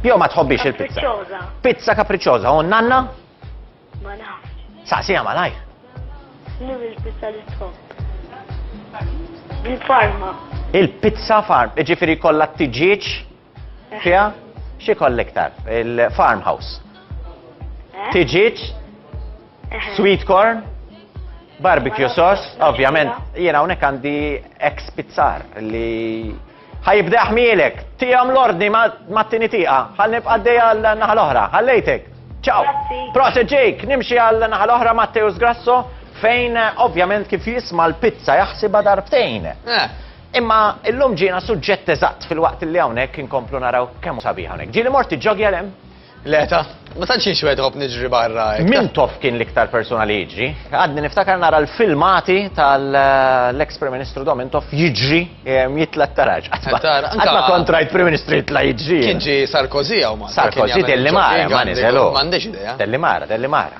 Jo ma tħobbix il-pizza. Kapriċċoża. Pizza kapriċċoża, u nanna? Ma nafx. Saqsija malaj. Nim il-pizza li tħobb. Il-farma. Il-pizza farm, ġifiri kollha t-tiġieġ eh. fiha xi kollha iktar, il-farmhouse. Eh. Tiġieġ Sweet corn, barbecue sauce, ovvjament, jiena hawnhekk għandi ex pizzar li ħajibda ħmielek, tijam l-ordni ma t-tini tiqa, ħal nibqa d-deja l-naħal oħra, ħallejtek. Ciao. Proset Jake, nimxi għal naħal oħra Matteus Grasso, fejn eh, ovvjament kif jisma l-pizza jaħsiba darbtejn. Eh. Imma illum ġina suġġett eżatt fil-waqt li hawnhekk inkomplu naraw kemm sabiħ hawnhekk. Ġieli morti ġogja lem? Le ta, ma tantx jien xwed ħobb niġri barra. Mintoff kien l-iktar persuna li jiġri. Għadni niftakar nara l-filmati tal-eks Prim Ministru Domintoff jiġri jitla t-taraġ. Għadma kontrajt Prim Ministru jitla jiġri. Kien ġi Sarkozy għaw ma. Sarkozy telli mara, ma nizelu. Mandiġ ideja. Telli mara, telli mara.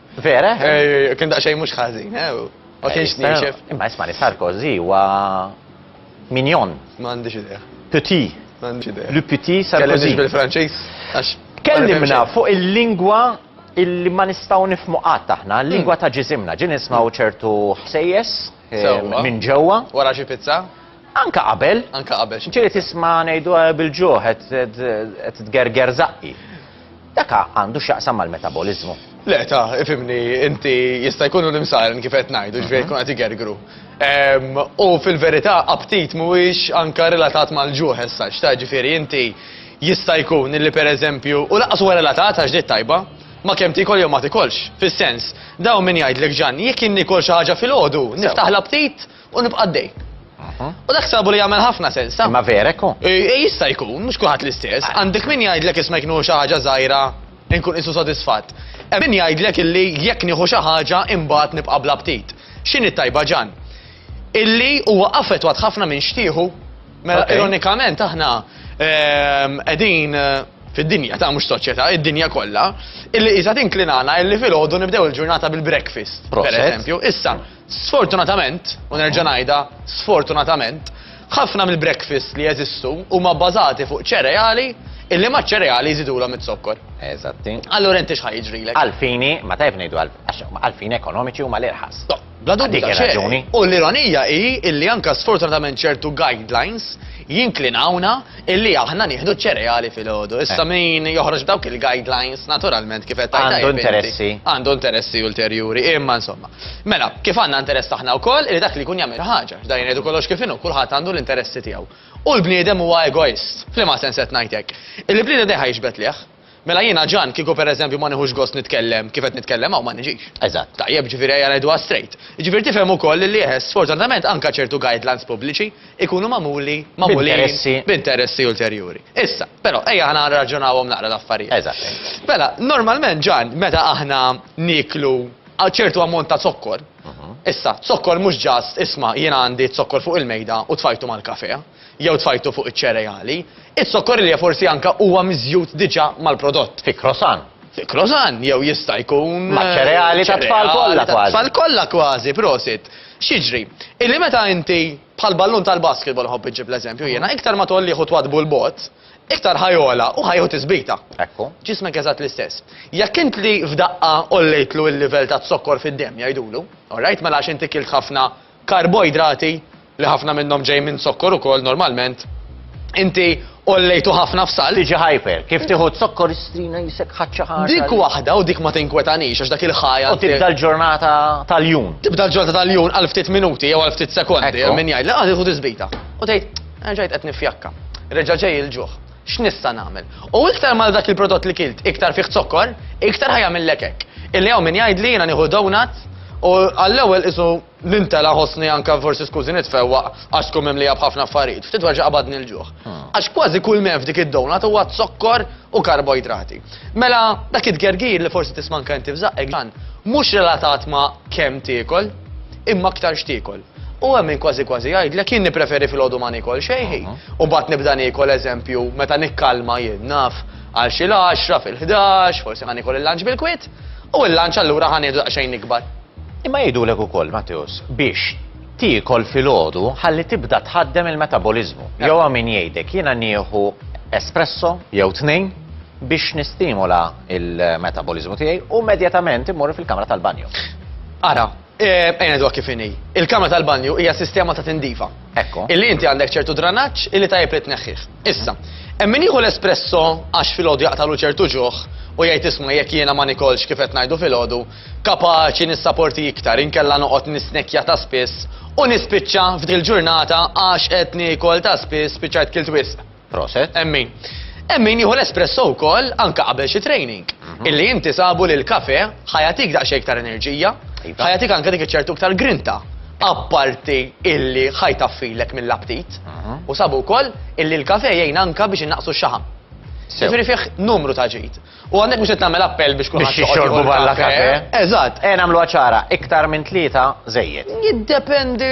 Vera? Eh, kien daqsxejn mhux ħażin, eh? Ma eh, kienx nixef. Imma isma' li Sarkozy huwa minjon. M'għandix idea. Petit. M'għandix idea. Le petit Sarkozy. bil-Franċiż għax. Kellimna fuq il-lingwa illi ma nistgħu nifmu qatt aħna, l-lingwa hmm. ta' ġisimna, ġin nismaw ċertu ħsejjes eh, minn ġewwa. Wara xi pizza? Anka qabel. Anka qabel. Ġieli tisma' ngħidu eh, bil-ġuħ qed tgerger zaqqi. Dak ha għandu x'jaqsam mal-metaboliżmu. Le, ta, ifhimni inti jista' jkun hu l-imsaren kif qed ngħidu, ġifieri jkun qed igergru. Ehm, u fil-verità aptit mhuwiex anka relatat mal-ġuħ as such, ta, ġifieri inti jista' jkun illi pereżempju, u lanqas huwa relatat għax ġejt tajba, ma' kemm tiekol jew ma tikolx. Fis-sens, dawn min jgħidlek Ġanni jekk jien niekol xi ħaġa filgħodu niftaħ l-aptit? U nibqa' għaddej. U dak sabu li jagħmel ħafna sens, ta? Ma verek hu. E, e, jista' jkun, mhux kulħadd l-istess. Għandek min jgħidlek isma' jkunu xi ħaġa żgħira nkun isu sodisfatt. E, min jgħidlek illi jekk nieħu xi ħaġa imbagħad nibqa' bla ptit. X'inhi tajba ġan? Illi huwa affettwat ħafna minn xtieħu. Mela ironikament aħna ehm, qegħdin eh, fid-dinja ta' mhux soċjetà, id-dinja kollha, illi qisha tinklinana illi filgħodu nibdew il-ġurnata bil-breakfast, per eżempju. Issa, Sfortunatament, u nerġa' ngħidha, sfortunatament, ħafna mill-breakfasts li jeżistu huma bbażati fuq ċereali illi maċ-ċereali jżidulhom iz-zokkor. Eżatti. Allura inti x'ħa jiġrilek? Għall-fini, ma tajjeb ngħidu għal, għax għall-fini ekonomiċi huma l-irħas. Toh, bla dubju Dik ta' xejn. ir-raġuni. U l-ironija hi illi anke sfortunatament ċertu guidelines jinklinawna illi aħna nieħdu ċ-ċereali filgħodu. Issa eh. min joħroġ dawk il-guidelines, naturalment kif qed tajta. Għandu interessi. Għandu interessi ulterjuri, imma insomma. Mela, kif għandna interess aħna wkoll li dak li jkun jagħmel ħaġa, dan jgħidu kollox kif inhu, kulħadd għandu l-interessi tiegħu. U l-bniedem huwa egoist, fl-ma sens qed ngħidlek. Il-bniedem dejħa jixbet liħ. Mela jiena Ġan kieku pereżempju ma nieħux gost nitkellem kif qed nitkellem hawn ma niġix. Eżatt. Tajjeb, ġifieri ejja ngħiduha straight. Jiġifieri tifhem ukoll illi eħe sfortunatament anke ċertu guidelines pubbliċi jkunu magħmuli, magħmulin, B'interessi. b'interessi ulterjuri. Issa, però, ejja aħna nirraġunawhom naqra l-affarijiet. Eżatt, eżatt. Mela, normalment Ġan meta aħna nieklu a ċertu ammont ta' zokkor, issa, zokkor mhux just isma' jiena għandi zokkor fuq il-mejda u tfajtu mal-kafè. jew tfajtu fuq iċ-ċereali, iz-zokkorilja forsi anke huwa miżjud diġà mal-prodott. Fi croissant. Fi croissant, jew jista' jkun. Maċ-ċereali tat-tfal kollha kważi. Ċereali tat-tfal kollha kważi, prosit. X'jiġri? Illi meta inti, bħal ballun tal-basketball nħobb inġib l-eżempju jiena, iktar ma tgħollih u twaddbu 'l bogħod, iktar ħa jogħla u ħa jieħu tisbita. Ekku. Ġismek eżatt l-istess. Jekk int li f'daqqa għollejtlu l-livell taz-zokkor fid-demm, jgħidulu, all right, mela għax inti kilt ħafna, karboidrati, li ħafna minnhom ġej minn zokkor ukoll normalment, inti għollejtu ħafna f'salt. Tiġi hyper. Kif tieħu z-zokkor istrina jisek ħadd xi ħaġa. Dik waħda u dik ma tinkwetanix għax dak il-high għal. U tibda l-ġurnata tal-jum. Tibda l-ġurnata tal-jum għal ftit minuti jew għal ftit sekondi hemm min jgħidlek ah tieħu tisbita. U tgħid, erġajt qed niffjakka. Reġa' ġej il-ġuħ. X'nista' nagħmel? U iktar mal dak il-prodott li kilt iktar fih zokkor, iktar ħa jagħmillek hekk. Illi hawn min jgħidli jiena nieħu donut u għall-ewwel qisu nintela' ħossni anke forsi skużi nitfewwaq għax tkun mimlija b'ħafna affarijiet, ftit wara qabadni l-ġuħ. Għax kważi kull m'hemm f'dik id-donut huwa zokkor u karboidrati. Mela, dak it-tgergir li forsi tisma' anke inti f'żaqqek dan mhux relatat ma' kemm tiekol, imma aktar x'tiekol. U hemm min kważi kważi jgħidlek jien nippreferi filgħodu ma nikol xejn ħin. U mbagħad nibda nikol eżempju meta nikkalma jien naf għal xi l-għaxra fil-ħdax, forsi ħa nikol il-lunch bil-kwiet, u l-lunch allura ħa nieħdu daqsxejn ikbar. Imma jgħidulek ukoll, Matteus, biex tiekol filgħodu ħalli tibda tħaddem il-metaboliżmu. Jew hawn min jgħidek jiena nieħu espresso jew tnejn biex nistimula il-metaboliżmu tiegħi u immedjatament immur fil-kamra tal-banju. Ara, Eh, ejna dwa kif inhi. Il-kamra tal-banju hija sistema ta' tindifa. Ekko. Illi inti għandek ċertu dranaġġ illi tajjeb li tneħħih. Issa, hemm min jieħu l-espresso għax filgħodu jaqtalu ċertu ġuħ u jgħid isma' jekk jiena ma nikolx kif qed ngħidu filgħodu, kapaċi nissaporti iktar inkella noqgħod nisnekja ta' spiss u nispiċċa f'dil ġurnata għax qed niekol ta' spiss spiċċajt kilt wisq. Proset. Hemm min. Hemm min jieħu l-espresso wkoll anke qabel xi training. Mhm. Illi inti sabu li l-kafe ħajatik daqsxejn iktar enerġija, iva. ħajatik anke dik iċ-ċertu iktar grinta. Apparti illi ħajtaffilek mill-aptit. Mhm. U sabu wkoll illi l-kafe jgħin anke biex innaqsu x-xaħam. Sew. Jiġifieri fih numru ta' ġid. U hawnhekk mhux qed nagħmel appell biex kulħadd joqgħod jieħu l-kafè. Biex jixorbu barra l-kafè. Eżatt. Ejja nagħmluha ċara, iktar minn tlieta żejjed. Jiddependi,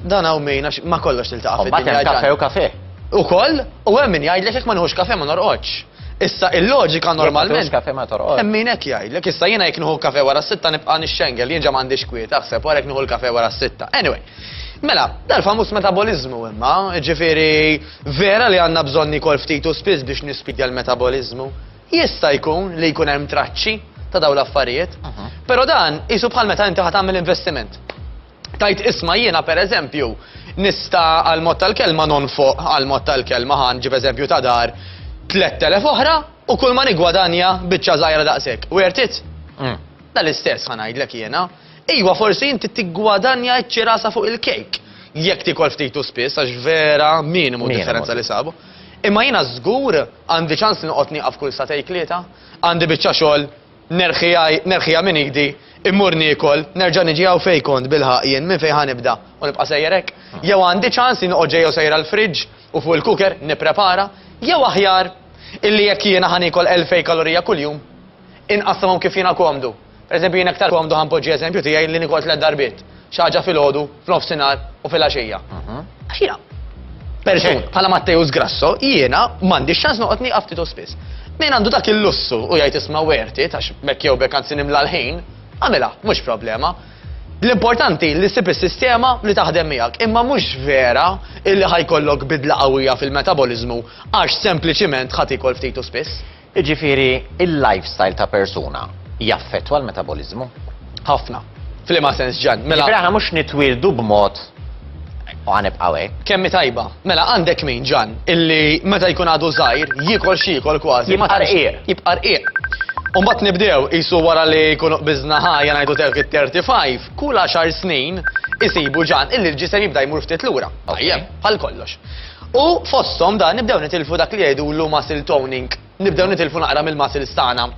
dan hawn min għax ma' kollox tiltaqa' fid-dinja. Imbagħad hemm kafè u kafè. Ukoll, u hemm min jgħidlek jekk ma nieħux kafè ma norqodx. Issa il-loġika normalment. Jekk ma tieħux kafè ma torqodx. Hemm min hekk jgħidlek. Issa jiena jekk nieħu kafè wara s-sitta nibqa' nixxengel, jien ġa m'għandix kwiet, aħseb wara jekk nieħu l-kafè wara s-sitta. Anyway, mela, dal-famuż metaboliżmu imma, jiġifieri, Vera li għandna bżonn niekol ftit u spiss biex nispidja l-metaboliżmu. Jista' jkun li jkun hemm traċċi ta' dawn l-affarijiet. Però dan qisu bħal meta inti ħa tagħmel investiment. Tgħid isma' jiena pereżempju nista' għall-mod tal-kelma nonfoq għall-mod tal-kelma ħa nġib eżempju ta' dar, 3,000 oħra u kulma niggwadanja biċċa żgħira daqshekk. Worth it? Dal-istess ħa ngħidlek jiena. Iwa, forsi inti tiggwadanja ċ-ċirasa fuq il-kejk, jekk tiekol ftit u spiss għax vera minimu d-differenza li sabu. Imma jiena żgur għandi ċans li noqgħod nieqaf kull satej tlieta, għandi biċċa xogħol nerħiha minn idi, immur niekol, nerġa' niġi hawn fejn kont bilħaqq jien, minn fejn ħa nibda u nibqa' sejjer hekk? Jew għandi ċans li noqgħod ġej jew sejr għall-fridge u fuq il-cooker nipprepara? Jew aħjar illi jekk jiena ħa niekol elfejn kalorija kuljum, Inqassamhom kif jiena komdu. Per eżempju, jiena iktar komdu ħa npoġġi eżempju tiegħi li nikol tliet darbiet, xi ħaġa filgħodu, f'nofsinhar u fil-għaxija. Għax jiena, persuna, bħala Matteus Grasso, jiena m'għandix ċans noqgħod nieqaf ftit u spiss. Min għandu dak il-lussu u jgħid isma' worth it għax b'hekk jew b'hekk anzi nimla l-ħin, agħmilha, mhux problema. L-importanti li ssib is-sistema li taħdem miegħek, imma mhux vera illi ħa jkollok bidla qawwija fil-metaboliżmu għax sempliċiment ħa tiekol ftit u spiss. Jiġifieri, il-lifestyle ta' persuna jaffettwa l-metaboliżmu? Ħafna. F'liema sens, Ġann? Mela. Jiġifieri aħna mhux nitwieldu b'mod u ħa nibqgħu hekk. Kemm hi tajba! Mela, għandek min, Ġann, illi meta jkun għadu żgħir, jiekol x'jiekol kważi. Jibqa' rqiq. Jibqa' rqiq. U mbagħad nibdew, qisu wara li jkunu qbiżna ħajja ngħidu telq it-thirty five, kull għaxar snin isibu, Ġann, illi l-ġisem jibda jmur ftit lura. Tajjeb, bħal kollox. U fosthom dan nibdew nitilfu dak li jgħidulu muscle toning. Nibdew nitilfu naqra mill-muscles tagħna.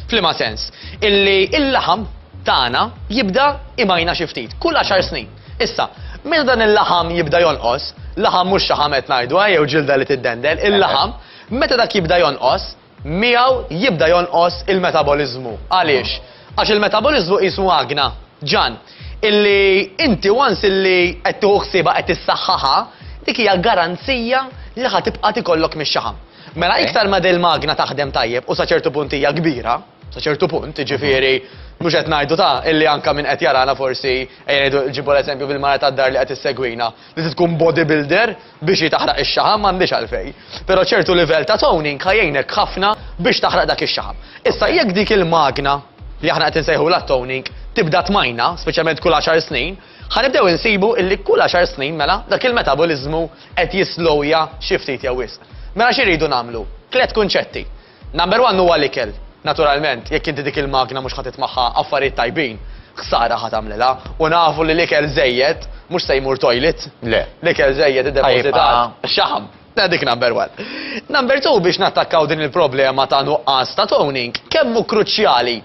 F'liema sens? Illi l-laħam tagħna jibda imajna xi ftit, kull għaxar snin. Issa, meta dan il-laħam jibda jonqos, laħam mhux xaħam qed ngħidu, jew ġilda li tiddendel, il-laħam, meta dak jibda jonqos, miegħu jibda jonqos il-metaboliżmu. Għaliex? Għax il-metaboliżmu qisu magna, ġann, illi inti once illi qed tieħu ħsiebha qed issaħħaħha, dik hija garanzija li ħa tibqa' tikollok mix-xaħam. Mela iktar ma dil-magna taħdem tajjeb u sa ċertu punt hija kbira, sa ċertu punt, jiġifieri mhux qed ngħidu ta' illi anka min qed jarana forsi ejja ngħidu ġibu l-eżempju bil-mara tad-dar li qed issegwina, li tkun bodybuilder, Biex hi taħraq ix-xaħam m'għandhiex għalfejn. Però ċertu livell ta' toning ħa jgħinek ħafna biex taħraq dak ix-xaħam. Issa jekk dik il-magna li aħna qed insejħulha toning tibda tmajna, speċjalment kull għaxar snin, ħa nibdew insibu illi kull għaxar snin mela dak il-metaboliżmu qed jislowja xi ftit jew wisq. Mela xi rridu nagħmlu? Tliet kunċetti. Number one huwa l-ikel. Naturalment, jekk inti dik il-magna mhux ħa trid magħha affarijiet tajbin, ħsara ħa tagħmlilha. U nafu li l-ikel żejjed mhux se jmur toilet. Le. L-ikel żejjed iddepożitat f'xaħam. Mela dik number one. Number two biex nattakkaw din il-problema ta' nuqqas ta' toning, kemm hu kruċjali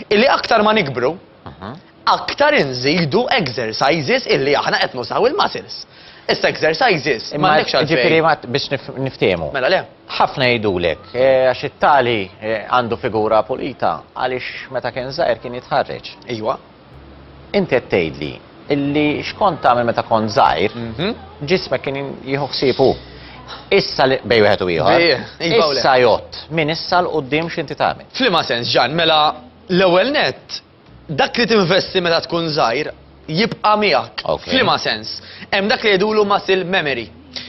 Illi aktar ma nikbru, aktar inżidu exercises illi aħna qed nużaw il-muscles. Issa exercises ma għandekx għalfejn. Ġifieri biex niftiehmu. Mela le. Ħafna jgħidulek eh, għax it-tali eh, għandu figura pulita għaliex meta kien żgħir kien jitħarreġ. Ejwa. Inti qed tgħidli illi x'kont tagħmel meta kont żgħir, ġismek kien jieħu ħsieb hu. Issa li bejn wieħed u ieħor. Issa jgħodd minn issa 'l quddiem x'inti tagħmel. F'liema sens, Ġann? Mela, l-ewwel nett, dak li tinvesti meta tkun żgħir jibqa' miegħek. F'liema sens? Hemm dak li jgħidulu muscle memory.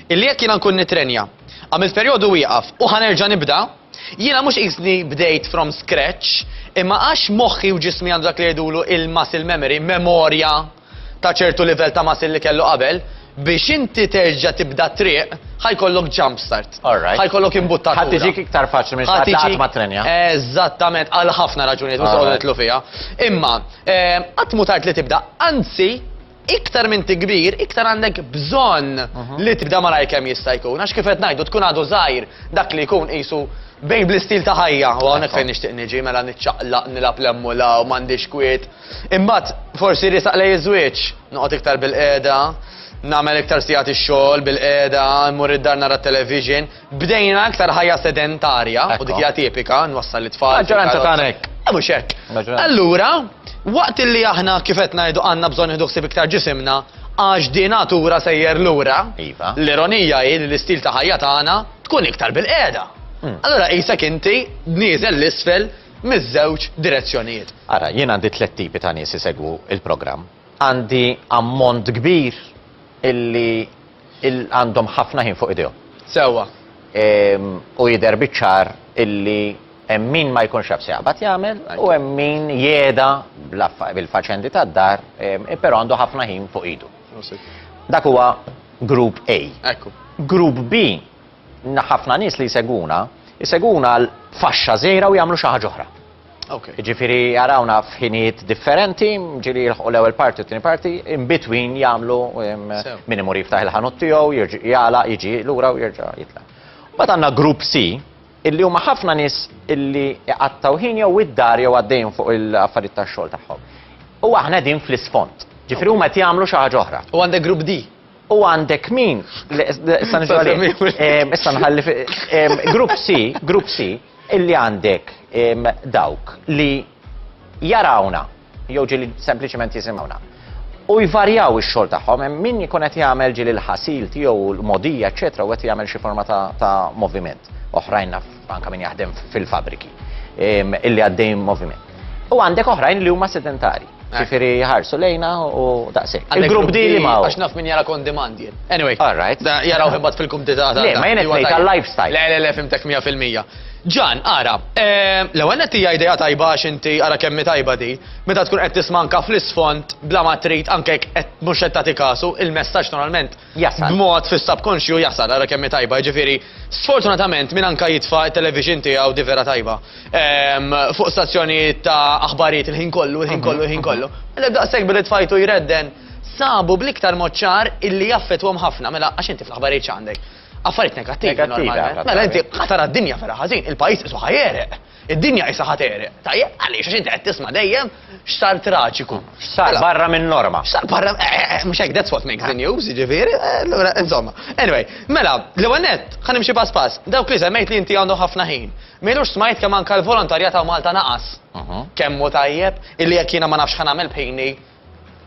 Illi jekk jiena nkun nittrenja, għamilt perjodu wieqaf u ħa nerġa' nibda, Jiena mhux qisni bdejt from scratch, imma għax moħħi u ġismi għandu dak li jgħidulu il-muscle memory, memorja ta' ċertu livell ta' muscle li kellu qabel, biex inti terġa' tibda t-triq, ħa jkollok jump start. All right. Ħa jkollok imbuttatura. Ħa tiġik iktar faċli minn xi ħadd ma ttrenja. Eżattament, għal ħafna raġunijiet mhux se nidħlu fiha. Imma qatt mhu tard li tibda, anzi, iktar minn tikbir, iktar għandek bżonn mhm. li tibda malaj kemm jista' jkun. Għax kif qed ngħidu tkun għadu żgħir dak li jkun qisu bejn bl-istil ta' ħajja, u għonek fejn nixtieq niġi mela niċċaqlaq nilab l-emmula u m'għandix kwiet. Imbagħad forsi risaq lej iż-żwieġ, noqgħod iktar bil-qiegħda, nagħmel iktar sigħat ix-xogħol bil-qiegħda, mmur id-dar nara television, Bdejna aktar ħajja sedentarja, u dik hija tipika, nwassal it-tfal. Maġġoranza tagħna hekk. Eh, mhux hekk. Allura, waqt li aħna kif qed ngħidu għandna bżonn nieħdu ħsieb iktar ġisimna, għax di natura sejjer lura, iva. l-ironija hi li l-istil ta' ħajja tagħna tkun iktar bil-qiegħda. Hmm. Allora qisek inti nieżel l-isfel miż-żewġ direzzjonijiet. Ara, jien għandi tliet tipi ta' nies isegwu il-programm. Għandi ammont kbir illi Illi għandhom ħafna ħin fuq idejhom. Sewwa. U jidher biċ-ċar illi hemm min ma jkunx jaf x'jaqbad jagħmel u hemm min jegħda bil-faċendi tad-dar, però għandu ħafna ħin fuq idu. Dak huwa Group A. Ekku. Group B, ħafna nies li jsegwuna, jsegwuna għal faxxa żgħira u jagħmlu xi ħaġa oħra. Okay. Ġifiri jarawna f'ħinijiet differenti, ġiri jilħu l-ewel parti u t-tini parti, in between jamlu min imur jiftaħ il-ħanut tiegħu, jala, jiġi lura u jirġa' jitla. Bat għandna grupp C, illi huma ħafna nies illi jqattaw ħin jew id-dar jew għaddejn fuq il-affarijiet tax-xogħol tagħhom. U aħna din fl-isfond. Ġifri huma qed jagħmlu xi ħaġa oħra. U għandek grupp D. U għandek min? Issa nħalli. Issa nħalli. Grupp C, grupp C, Illi għandek dawk li jarawna, jew ġieli sempliċement jisimgħuna, u jvarjaw ix-xogħol tagħhom, hemm min ikun qed jagħmel ġieli l-ħasil tiegħu, l-mogħdija, eċċetera, u qed jagħmel xi forma ta' moviment. Oħrajn naf anke min jaħdem fil-fabbriki, illi għaddejjin moviment. U għandek oħrajn li huma sedentarji. Ġifiri jħarsu lejna u daqsik. Il-grupp di li ma' għax naf minn jara kon demand jien. Anyway. All right. Da jaraw himbat fil-kumdita. Le, ma jenet nejt għal-lifestyle. Le, le, le, fimtek 100%. Ġan, ara, eh, l-ewwel qed hija idea tajba għax inti ara kemm tajba di, meta tkun qed tisma' anke fl-isfond bla ma trid anke qed mhux qed tagħti kasu, il-messaġġ normalment jasal. B'mod fis-subkonxju jasal, ara kemm hi tajba, jiġifieri sfortunatament min anka jitfa' t-television tiegħu di vera tajba. Ehm, fuq stazzjonijiet ta' aħbarijiet il-ħin kollu, il-ħin kollu, il-ħin kollu. Mela daqshekk billi tfajtu jredden sabu bl-iktar mod ċar illi jaffetwhom ħafna, mela għax inti fl-aħbarijiet x'għandek? Affarijiet negattivi normalment. Mela inti ħatara d-dinja vera ħażin, il-pajjiż isu ħajereq. Id-dinja qisha ħa tegħreq. Tajjeb, għaliex? Għax inti qed tisma' dejjem x'sar traġiku. X'sar barra min-norma. X'sar barra, eh, eh, eh, mhux hekk that's what makes the news, jiġifieri, allura insomma. Anyway, mela, l-ewwel nett, ħa nimxi pass pass. Dawk li semmejt li inti għandhom ħafna ħin. M'ilux smajt kemm anke l-volontarjat hawn Malta naqas. Kemm hu tajjeb, illi jekk jiena ma nafx ħa nagħmel b'ħini,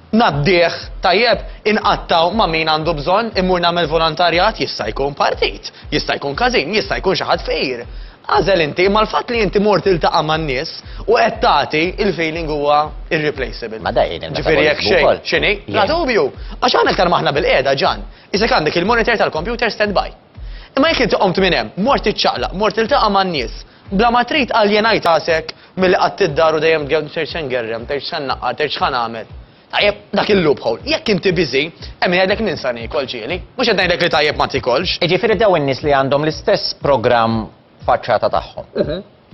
Ngħaddih, tajjeb, inqattgħu ma' min għandu bżonn, immur nagħmel volontarjat, jista' jkun partit, jista' jkun każin, jista' jkun xi ħadd fqir. Agħżel inti, imma l-fatt li inti mort tiltaqa' man-nies u qed tagħti, il-feeling huwa irreplaceable. Ma da jgħin il-metabolizmu wkoll. Ġifieri jekk xejn, x'inhi? Bla dubju! Għax aħna iktar ma aħna bil-qiegħda, Ġan, isek għandek il-monitor tal-kompjuter standby. Imma jekk inti qomt minn hemm, mort tiċċaqlaq, mort tiltaqa' man-nies, Bla ma trid qal jien għid għasek milli qgħadt id-dar u dejjem tgerrem tgħid se ngerrem, tgħid x'se nnaqqar, tgħid x'ħa nagħmel. Tajjeb, dak il-loophole. Jekk inti busy, hemm min jgħidlek ninsa niekol, ġieli. Mhux qed ngħidlek li tajjeb ma tiekolx. Jiġifieri dawn in-nies li għandhom l-istess programm faċċata tagħhom,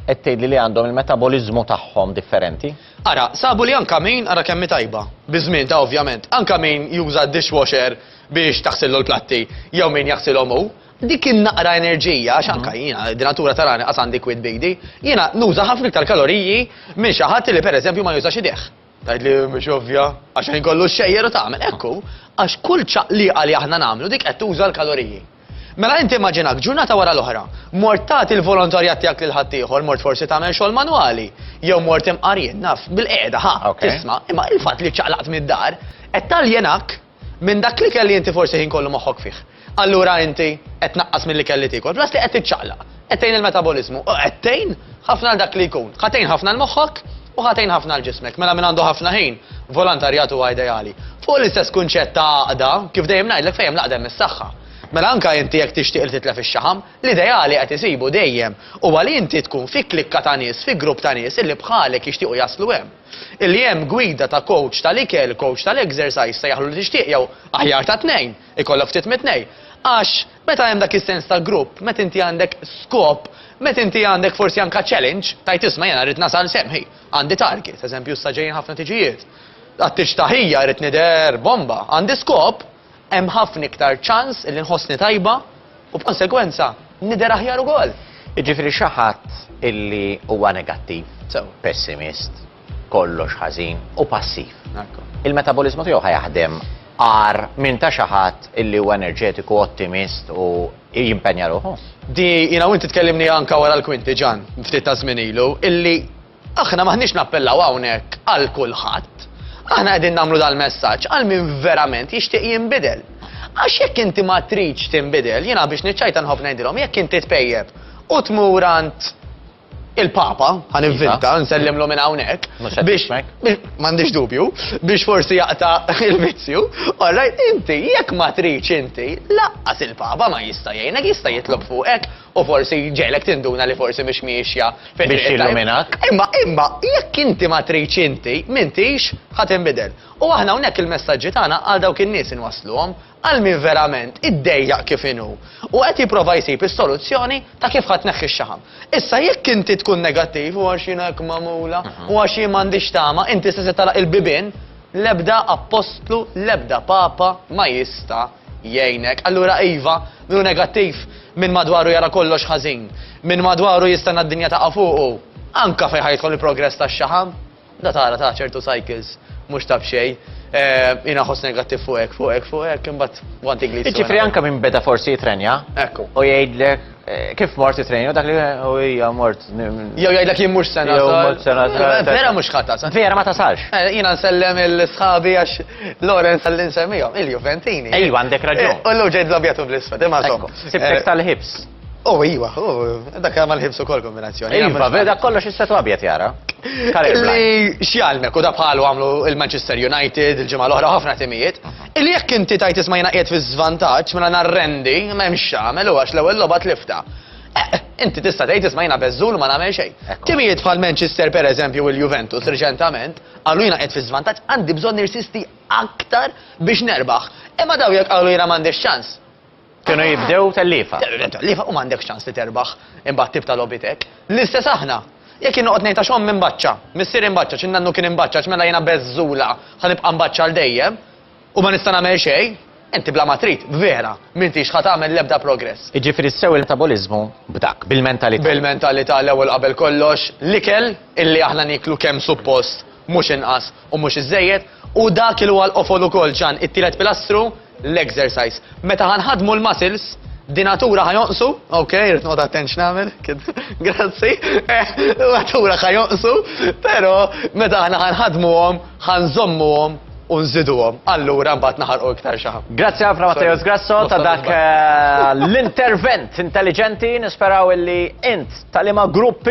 qed tgħidli li għandhom il-metaboliżmu tagħhom differenti? Ara, sabu li anke min, ara kemm hi tajba, biż-żmien ta' ovvjament, anke min juża d-dishwasher biex taħsillu l-platti jew min jaħsilhom hu, Dik in-naqra enerġija, għax anka jiena d-natura tarani qas għandi kwid bidi, jiena nuża ħafna iktar kaloriji minn xi ħadd li pereżempju ma jużax idejh. Tgħid li mhux ovvja, għax ħin kollu xejjer u tagħmel. Ekku, għax kull ċaqliqa li aħna nagħmlu dik qed tuża l-kaloriji. Mela inti immaġinak ġurnata wara l-oħra, mort tagħti l-volontarjat tiegħek lil ħaddieħor, mort forsi tagħmel xogħol manwali, jew mort imqarjien naf bil-qiegħda ħa tisma' imma il-fatt li ċaqlaqt mid-dar qed taljenak Minn dak l-ikel li inti forsi ħin kollu moħħok fih. Allura inti qed tnaqqas mill-ikel li tiekol, plus li qed tiċċaqlaq, qed tgħin il-metaboliżmu u qed tgħin ħafna għal dak li jkun. Ħa tgħin ħafna 'l moħħok u ħa tgħin ħafna 'l ġismek. Mela min għandu ħafna ħin, volontarjat huwa ideali. Fuq l-istess kunċett ta' għaqda, kif dejjem ngħidlek fejn hemm l-għaqda hemm is-saħħa. Mela anka inti jekk tixtieq li titlef ix-xaħam, l-ideali qed isibu dejjem huwa li inti tkun fi klikka ta' nies, fi grupp ta' nies illi bħalek jixtiequ jaslu hemm. Illi hemm gwida ta' kowċ tal-ikel, kowċ tal-ekżersajż, sejjaħlu li tixtieq jew, aħjar ta' tnejn, ikollok ftit mit-tnejn. Għax, meta hemm dak is-sens ta' grupp, meta inti għandek skop, meta inti għandek forsi anke challenge, tgħid isma' jiena rrid nasal s'hemm, hi, għandi target, eżempju issa ġejjin ħafna tiġijiet, għad-tiġ ta' ħija rrid nidher bomba, għandi skop, hemm ħafna iktar ċans li nħossni tajba u b'konsegwenza nidher aħjar ukoll. Jiġifieri xi ħadd illi huwa negattiv, pessimist, kollox ħażin u passiv. Il-metaboliżmu tiegħu ħa jaħdem agħar minn ta' xi ħadd illi huwa enerġetiku, ottimist u jimpenja ruħu. Di jiena u inti tkellimni anke wara l-kwinti Ġan, ftit ta' żmien ilu, illi Aħna m'aħniex nappellaw hawnhekk għal kulħadd. Aħna qegħdin nagħmlu dal-messaġġ għal min verament jixtieq jinbidel. Għax jekk inti ma tridx tinbidel, jiena biex niċċajta nħobb ngħidilhom jekk inti tpejjep u tmur għand il-Papa, għan inventa, iva. nsellimlu minn hawnhekk, biex m'għandix dubju, biex forsi jaqta il-vizzju, orrajt inti jekk ma tridx inti, laqqas il-Papa ma jista' jgħinek jista' jitlob fuqek u forsi jġegħlek tinduna li forsi mhix miexja fit-triq it-tajba. Biex jilluminak. Imma, imma, jekk inti ma tridx inti, m'intix ħa tinbidel. U aħna hawnhekk il-messaġġi tagħna għal dawk in-nies inwassluhom, għal min verament iddejjaq kif inhu, u qed jipprova jsib is-soluzzjoni ta' kif ħa tneħħi x-xaħam. Issa jekk inti tkun negattiv, u għax jiena hekk magħmula, u għax jien m'għandix tama, inti se se tagħlaq il-bibien, l-ebda appostlu, l-ebda papa ma jista', jgħinek. Allura iva, min hu negattiv, min madwaru jara kollox ħażin, min madwaru jistenna d-dinja taqa' fuqu, anke fejn ħa jidħol il-progress tax-xaħam, da tara ta' ċertu cycles mhux ta' b'xejn. Jiena nħoss negattiv fuq hekk, fuq hekk, fuq hekk, imbagħad gwanti gliz. Jiġifieri anke min beda forsi jitrenja u jgħidlek, Kif mort it-trejn, dak li u hija mort. Jew jgħidlek jien mhux sena. Jew mort sena. Vera mhux ħadd tasal. Vera ma tasalx. Eh, jiena nsellem il-sħabi għax Lorenz għalli nsemmihom, il-Juventini. Ejwa għandek raġun. Eh, u l ġejt l-abjatu bl-isfed, imma żomm. Sibtek eh, tal-ħibs. Oh, iwa, oh, dak ma l-ħibsu kol kombinazzjoni. Iva, veda kollox is-setu abjad jara. Li xjalmek u da bħalu għamlu il-Manchester United, il-ġimgħa l-oħra ħafna timijiet. Mhm. Illi jekk inti tgħid isma' jiena qiegħed fiż-żvantaġġ, mela nhar rendi, ma hemm x'tagħmel u għax l-ewwel logħba tliftha. Eqq! Inti tista' tgħid isma' jiena beżżul u ma nagħmel xejn. Timijiet bħal Manchester pereżempju u l-Juventus riċentament qalu jiena qiegħed fiż-żvantaġġ għandi bżonn nirsisti aktar biex nerbaħ. Imma dawn jekk qalu jiena m'għandix ċans, Kienu jibdew telliefa. Telliefa u m'għandekx ċans li terbaħ imbagħad tibta' logħbiet hekk. L-istess aħna. Jekk jien noqgħod ngħid għax ommi mbaċċa, missieri mbaċċa, xi nannu kien imbaċċa għax mela jiena beżżula ħa nibqa' mbaċċa għal dejjem u ma nista' nagħmel xejn, inti bla ma trid, vera, m'intix ħa tagħmel l-ebda progress. Jiġifieri sew il-metaboliżmu b'dak, bil-mentalità. Bil-mentalità l-ewwel qabel kollox, l-ikel illi aħna nieklu kemm suppost mhux inqas. U mhux iżżejjed, hu dak il huwa l-qofol ukoll, Ġan, it-tielet pilastru, l-exercise. Meta ħa nħaddmu l-muscles, dinatura ħa jonqsu, ok, irrid noqgħod attent x'nagħmel, kien, grazzi, dinatura ħa jonqsu, però meta aħna ħa nħaddmuhom, ħa nżommuhom u nżiduhom. Allura mbagħad naħarqu iktar xi ħadd. Grazzi ħafna Matteos Grasso ta' dak eh, l-intervent intelligenti, nisperaw illi int tal-ima gruppi